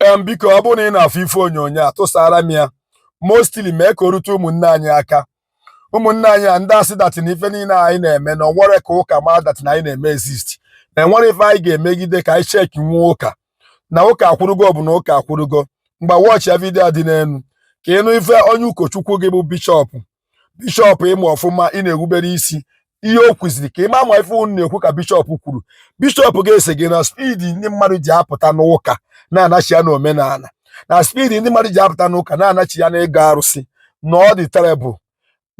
em biko ọ bụrụ na ị na-afụ ife onyonyo a tụsara m ya mostly mee ka o rute ụmụnne anyị aka ụmụnne anyị a ndị a sị dat na ife niile anyị na-eme na o nwerọ ka ụka ma dat na anyị na-eme exist na enwerọ ife anyị ga-emegide ka anyị shake nwu ụka na ụka akwụrụgo ọ bụ na ụka akwụrụgo ngwa wọchịa vidiyo dị n'elu ka ị nụ ife onye ụkọchukwu gị bụ bishọpụ bishọp ị ma ọfụma ị na-erubere isi ihe o kwuziri ka ị ma ma ife unu na-ekwu ka bishọp kwuru bishọp gị asị gị na spidi ndị mmadụ ji apụta n'ụka na-anachiya na omenala na spidi ndị mmadụ ji apụta n'ụka na-anachiya na ịgọ arụsị na ọ dị terrible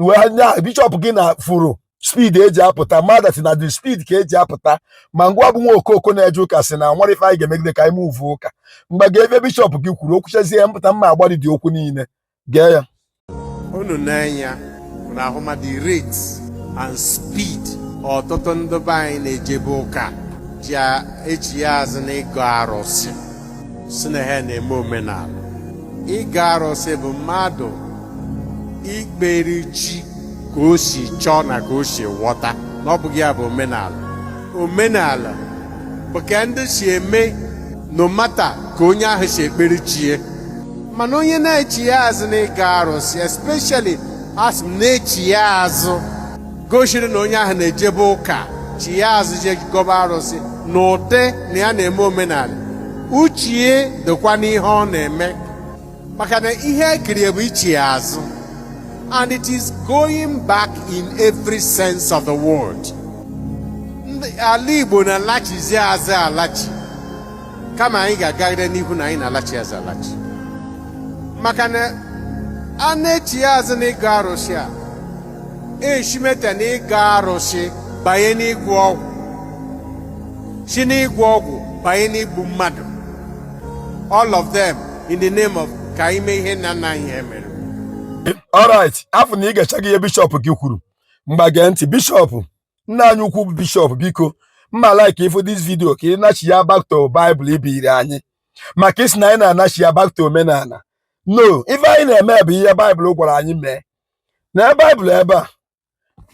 well bishọp gị na fụrụ speed e ji apụta ma dat na the speed ka e ji apụta ma ngịwa bụ nwa ọkụkọ na-eje ụka sị na enwerọ ife anyị ga-emegide ka anyị mụvu ụka ngwa gee ife bishọp gị kwuru o kwuchazie m pụta mma agbari dị okwu niile gee ya unu nee anya unu ahụma the rate and speed ọtụtụ ndị be anyị na-ejebu ụka ji echiya azụ na ịgọ arụsị sị na ha na-eme omenala ịgọ arụsị bụ mmadụ ikpere chi ka o si chọọ na ka o si ghọta na ọ bụghị ya bụ omenala omenala bụ ka ndị si eme no matter ka onye ahụ si ekpere chi ya mana onye na-echiya azụ na ịgọ arụsị especially a sị m na-echiya azụ gosiri na onye ahụ na-ejebu ụka chiya azụ je gọba arụsị na ụdị na ya na-eme omenala uche ya dịkwa n'ihe ọ na-eme maka na ihe ekirie bụ ichiya azụ and it is going back in every sense of the word ndị ala Igbo na-alachizi azụ alachi kama anyị ga-agagide n'ihu na anyị na-alachi azụ alachi maka na a na-echiya azụ n'ịgọ arụsị a eshimeta na ịgọ arụsị banye n'ịgwọ ọgwụ si n'ịgwọ ọgwụ banye n'igbu mmadụ all of them in the name of ka anyị mee ihe nna nna anyị ha mere alright afụ na i gechago ihe bishọp gị kwuru ngwa gee ntị bishọp nna anyị ukwu bụ bishọp biko m ma like ị fụ dis vidio ka ị nachiya back to Bible ibiri anyị maka ị sị na anyị na-anachiya back to omenala no ife anyị na-eme bụ ihe Bible gwara anyị mee na Bible ebe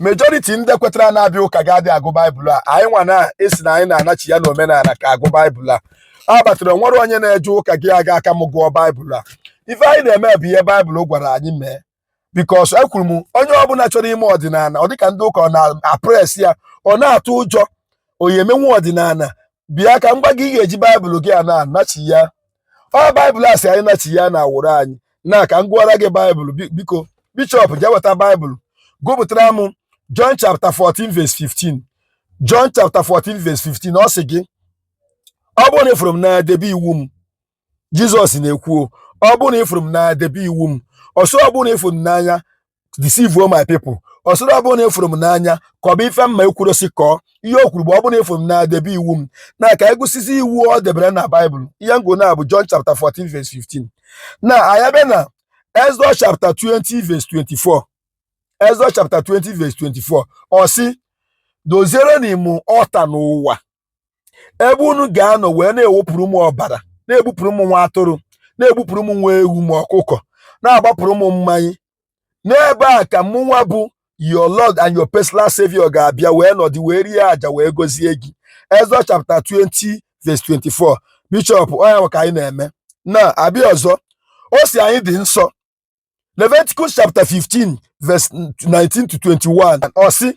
majority ndị kwetara na-abịa ụka gị adị agụ baịbụl a anyị nwa na-asị na anyị na-anachiya na omenala ka agụ baịbụl a a batara nwerọ onye na-eje ụka gị ga-aka m gụọ baịbụl a ife anyị na-eme bụ ihe baịbụl gwara anyị mee because ekwuru m onye ọbụla chọrọ ime ọdịnala ọ dịka ndị ụka ọ na-oppress ya ọ na-atụ ụjọ oyi emenwu ọdịnala bịa ka m gwa gị ị ga-eji baịbụl gị a na-anachiya ọ baịbụl a sị anyị nachiya na awụrọ anyị nwa ka m gụọra gị baịbụl biko bishọp jee weta baịbụl gụpụtara m John chapter 14 verse 15 John chapter 14 verse 15 ọ sị gị ọ bụrụ na ị fụrụ m n'anya debe iwu m jizọs na-ekwu ọ bụrụ na ịfụrụ m n'anya debe iwu m ọ sịrọ ọ bụrụ na ịfụrụ m n'anya deceive my people ọ sịrọ ọ bụrụ na ịfụrụ m n'anya kọba ife mụwa ekwurọ sị kọọ ihe o kwuru bụ ọ bụrụ na ịfụrụ m n'anya debe iwu m na ka anyị gụsịzi iwu o debere na baịbụl ihe ngo na bụ John chapter 14 verse 15 na anyị bịa na Exodus chapter 20 verse 24 Exodus chapter 20 verse 24 ọ sị dozierenụ mụ altar n'ụwa ebe unu ga-anọ wee na-ewepụrụ m ọbara na-egbupụrụ m nwa atụrụ na-egbupụrụ m nwa ewu ma ọkụkọ na-agbapụrụ m mmanya n'ebe a ka mụnwa bụ your lord and your personal savior ga-abịa wee nọdụ wee rie aja wee gọzie gị Exodus chapter 20 verse 24 bishọp ọ nya ka anyị na-eme na a bịa ọzọ ọ sị anyị dị nsọ Leviticus chapter 15 verse 19 to 21 ọ sị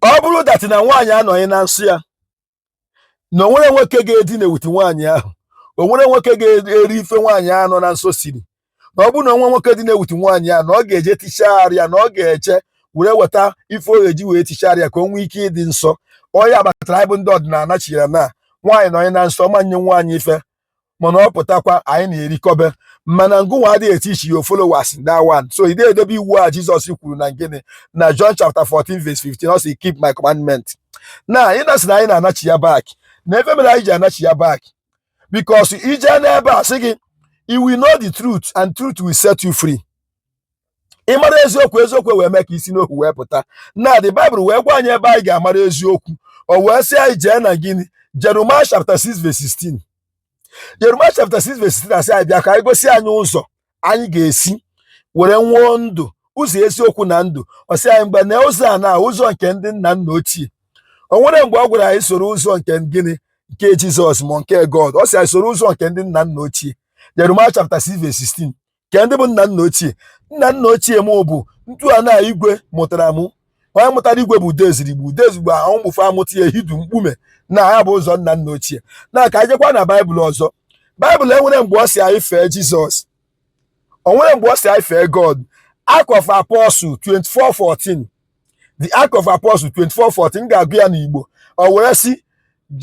ọ bụrụ that na nwaanyị anọnye na nsọ ya na o nwerọ nwoke ga-edina elu ute nwaanyị ahụ o nwerọ nwoke ga-eri ife nwaanyị nọ na nsọ siri na ọ bụrụ na o nwee nwoke dina elu ute nwaanyị ahụ na ọ ga-eje tichaa arụ ya na ọ ga-eje were weta ife ọ ga-eji wee tichaa arụ ya ka o nwee ike ịdị nsọ ọ nya kpatara anyị bụ ndị ọdịnala chiyere na nwaanyị nọnye na nsọ ọ ma nye nwaanyị ife mana ọ pụtakwa anyị na-erikọbe mana ngịnwa adịghị e-teach your followers that one so ị na-edebe iwu a Jizọs kwuru na gịnị na John chapter 14 verse 15 ọ sị keep my commandment na ị na-asị na anyị na-anachi ya back na ife mere anyị ji anachi ya back because i jee n'ebe a sị gị you will know the truth and truth will set you free ị mara eziokwu eziokwu wee mee ka i si n'ohu wee pụta na the Bible wee gwa anyị ebe anyị ga-amara eziokwu o wee sị anyị jee na gịnị Jeremiah chapter 6 verse 16 Jeremiah chapter 6 verse 16 a sị anyị bịa ka e gosi anyị ụzọ anyị ga-esi were nwee ndụ ụzọ eziokwu na ndụ ọ sị anyị mgbe na ụzọ a na ụzọ nke ndị nna nna ochie o nwerọ mgbe ọ gwara anyị soro ụzọ nke gịnị nke Jizọs ma nke God ọ sị anyị soro ụzọ nke ndị nna nna ochie Jeremiah chapter 6 verse 16 kee ndị bụ nna nna ochie nna nna ochie m bụ ntu a na igwe mụtara mụ onye mụtara igwe bụ udezirigbo udezirigbo ahụ mụfe amụta ya ehidu mkpume na ya bụ ụzọ nna nna ochie na ka anyị jekwa na baịbụl ọzọ baịbụl enwerọ mgbe ọ sị anyị fee jizọs o nwerọ mgbe ọ sị anyị fee god Act of Apostle 24:14 the Act of Apostle 24:14 m ga-agụ ya n'Igbo o were sị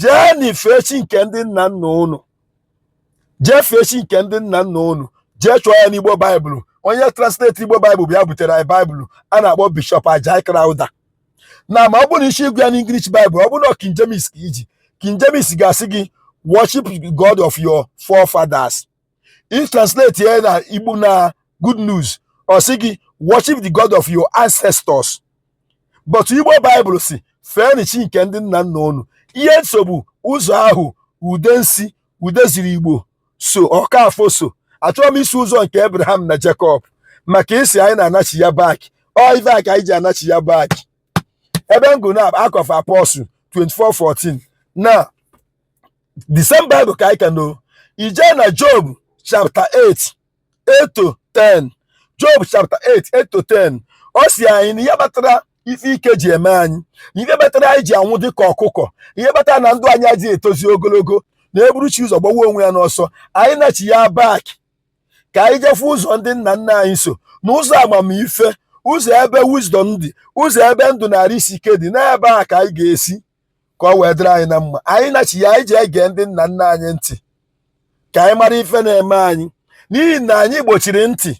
jeenụ fee chi nke ndị nna nna unu jee fee chi nke ndị nna nna unu jee chọọ ya n'Igbo Baịbụl onye translate Igbo Baịbụl bịa butere anyị Baịbụl a na-akpọ Bishop Ajayi Crowther na ma ọ bụrụ na ị sị ịgụ ya n'English Baịbụl ọ bụrụ na King James ka i ji King James ga-asị gị worship God of your forefathers i translate ya na igbo na good news ọ sị gị worship the god of your ancestors but igbo baịbụl sị feenụ chi nke ndị nna nna unu ihe m so bụ ụzọ ahụ udensi udezirigbo so ọkafọ so achọrọ m isi ụzọ nke abraham na jacob maka i si anyị na-anachi ya back ọ ive a ka anyị ji anachi ya back ebe m gụrụ na acts of apostles 24 14 na the same bible ka anyị ka nọ i jee na job chapter 8 8 to 10 job chapter 8 8 to 10 ọ sị anyị na ihe kpatara ife ike ji eme anyị na ihe kpatara anyị ji anwụ dị ka ọkụkọ ihe kpatara na ndụ anyị adịghị etozi ogologo na e buru chi ụzọ gbawa onwe ya n'ọsọ anyị nachi ya back ka anyị jee fụ ụzọ ndị nna nna anyị so na ụzọ amamife ụzọ ebe wisdom dị ụzọ ebe ndụ na arụ isi ike dị n'ebe a ka anyị ga-esi ka ọ wee dịrị anyị na mma anyị nachi ya anyị ji ege ndị nna nna anyị ntị ka anyị mara ife na-eme anyị n'ihi na anyị gbochiri ntị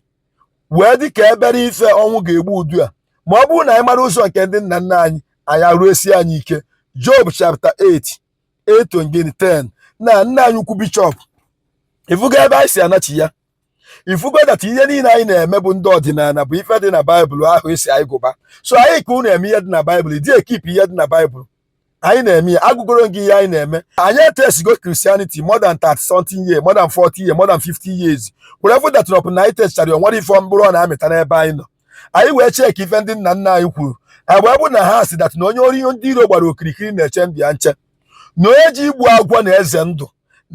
wee dị ka ebere ife ọnwụ ga-egbu udu a ma ọ bụrụ na anyị mara ụzọ nke ndị nna nna anyị anyị arụ esie anyị ike Job chapter 8 8 10 na nna anyị ukwu bishọp ị fụgo ebe anyị si anachi ya ị fụgo that ihe niile anyị na-eme bụ ndị ọdịnala bụ ife dị na baịbụl ahụ e si anyị gụba so anyị ka unu eme ihe dị na baịbụl di ekeep ihe dị na baịbụl anyị na-eme ya agụgoro gị ihe anyị na-eme anyị etestigo christianity more than 30 something years more than 40 years more than 50 years were fụ that upon na anyị testichara ya o nwerọ ife mkpụrụ ọ na-amịta n'ebe anyị nọ anyị wee check ife ndị nna nna anyị kwuru agba bụ na ha sị that na onye ori ndị iro gbara okirikiri na-eche ndụ ya nche na onye je igbu agwọ na-eze ndụ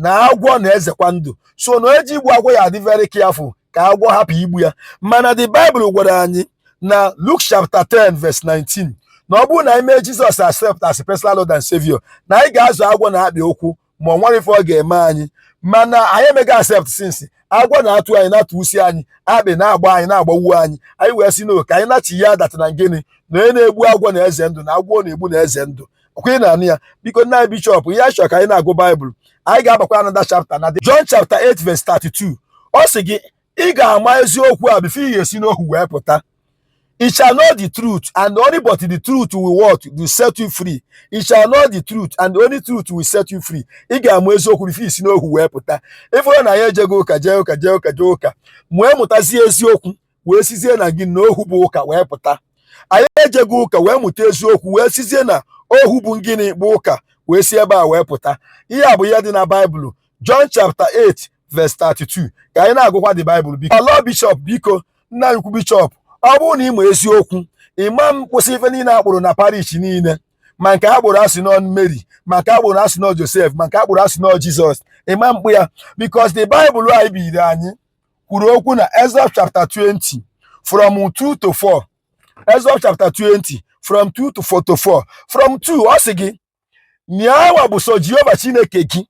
na agwọ na-ezekwa ndụ so na onye je igbu agwọ ya adị very careful ka agwọ hapụ igbu ya mana the Bible gwara anyị na Luke chapter 10 verse 19 na ọ bụrụ na anyị mee Jizọs accept as personal Lord and Savior na anyị ga-azọ agwọ na akpị ụkwụ ma o nwerọ ife ọ ga-eme anyị mana anyị emego accept since agwọ na-atụ anyị na-atụgbusi anyị akpị na-agba anyị na-agbagbu anyị anyị wee sị no ka anyị nachi ya that na gịnị na onye na-egbu agwọ na-eze ndụ na agwọ ọ na-egbu na-eze ndụ ọ kwa ị na-anụ ya biko nna anyị bishọp ihe anyị chọrọ ka anyị na-agụ baịbụl anyị ga-agbakwa another chapter na John chapter 8 verse 32 ọ sị gị ị ga-ama eziokwu a before ị ga-esi n'ohu wee pụta Ye shall know the truth, and only but the truth will what will set you free. Ye shall know the truth, and the only truth will set you free. Ị ga-ama eziokwu before i si n'ohu wee pụta. Ị fụrụ na anyị ejego ụka jee ụka jee ụka jee ụka mụọ mụtazie eziokwu wee sizie na gịnị na ohu bụ ụka wee pụta. Anyị ejego ụka wee mụta eziokwu wee sizie na ohu bụ ngịnị bụ ụka wee si ebe a wee pụta. Ihe a bụ ihe dị na Baịbụl John chapter 8 verse 32 ka anyị na-agụkwa the Bible biko lord bishọp biko nna anyị ukwu bishọp ọ bụrụ na ị ma eziokwu ịma m kwụsị ife niile a kpụrụ na parish niile ma nke a kpụrụ a sị na ọ Mary ma nke a kpụrụ a sị na ọ Josef ma nke a kpụrụ a sị na ọ Jizọs ịma mkpụ ya because the Bible anyị biri anyị kwuru okwu na Exodus chapter 20 from 2 to 4 Exodus chapter 20 from 2 to 4 to 4 from 2 ọ sị gị nyawa bụ sọ Jehova Chineke gị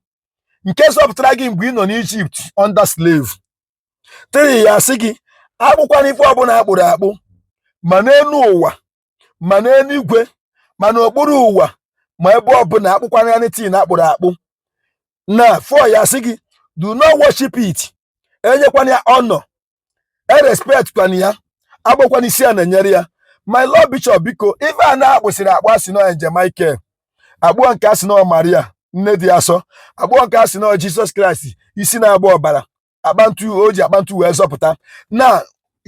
nke zọpụtara gị mgbe ị nọ n'Ijipt under slave 3 ya sị gị akpụkwana ife ọbụla a kpụrụ akpụ ma n'elu ụwa ma n'eluigwe ma n'okpuru ụwa ma ebe ọbụla akpụkwana anything a kpụrụ akpụ na 4 ya sị gị do not worship it enyekwana ya honor erespectkwana ya agbakwana isi ana enyere ya my lord bishop biko ife a na-akpụsịrị akpụ a sị na ọ angel Michael a kpụọ nke a sị na ọ Maria nne dị asọ a kpụọ nke a sị na ọ Jizọs Kraịst isi na-agba ọbara apa ntu o ji apa ntu wee zọpụta na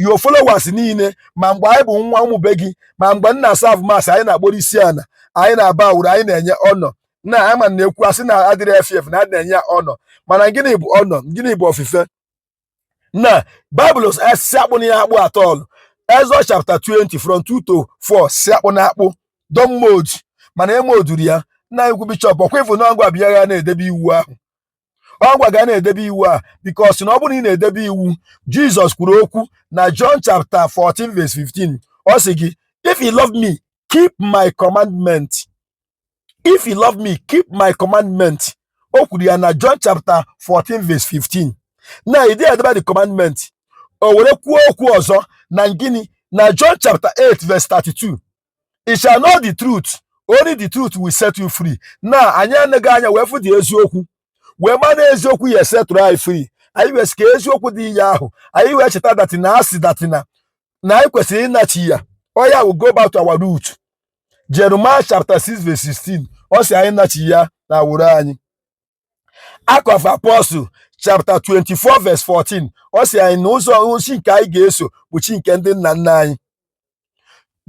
your followers niile ma mgbe anyị bụ nwa member gị ma mgbe m na-aserve mass anyị na-akpọrọ isi ana anyị na-abowuru anyị na-enye honor na ama na-ekwu a sị na adịrị efe efe na adị na-enye ya honor mana gịnị bụ honor gịnị bụ ofufe na Bible sị akpụna ya akpụ at all Exodus chapter 20 from 2 to 4 sị akpụna akpụ don't mould mana e moulduru ya nna anyị ukwu bishọp ọ kwa ị fụ na ọgwa bịa ya na-edebe iwu ahụ ọgwa ga na-edebe iwu ahụ because na ọ bụrụ na ị na-edebe iwu Jizọs kwuru okwu na John chapter 14 verse 15 ọ sị gị if you love me keep my commandment if you love me keep my commandment o kwuru ya na John chapter 14 verse 15 na ide edebe the commandment o were kwuo okwu ọzọ na gịnị na John chapter 8 verse 32 you shall know the truth only the truth will set you free na anyị anaghị anya wee fụ the eziokwu wee ma na eziokwu ya setụrụ anyị free anyị wee sị ka eziokwu dị ihe ahụ anyị wee cheta that na a sị that na na anyị kwesịrị ịnachiya oya we go back to our root Jeremiah chapter 6 verse 16 ọ sị anyị nachiya na root anyị Act of Apostle chapter 24 verse 14 ọ sị anyị na ụzọ chi nke anyị ga-eso bụ chi nke ndị nna nna anyị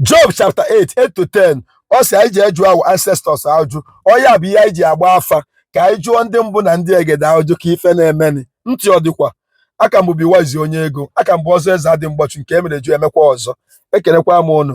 Job chapter 8 8 to 10 ọ sị anyị jee jụọ our ancestors ajụ ọ ya bụ ihe anyị ji agba afa ka anyị jụọ ndị mbụ na ndị egede ajụ ka ife na-emeni ntị ọ dịkwa a ka m bụ Biwazi onye ego a ka m bụ ọzọ eze adị mgbachu nke emere ju emekwa ọzọ ekelekwa m unu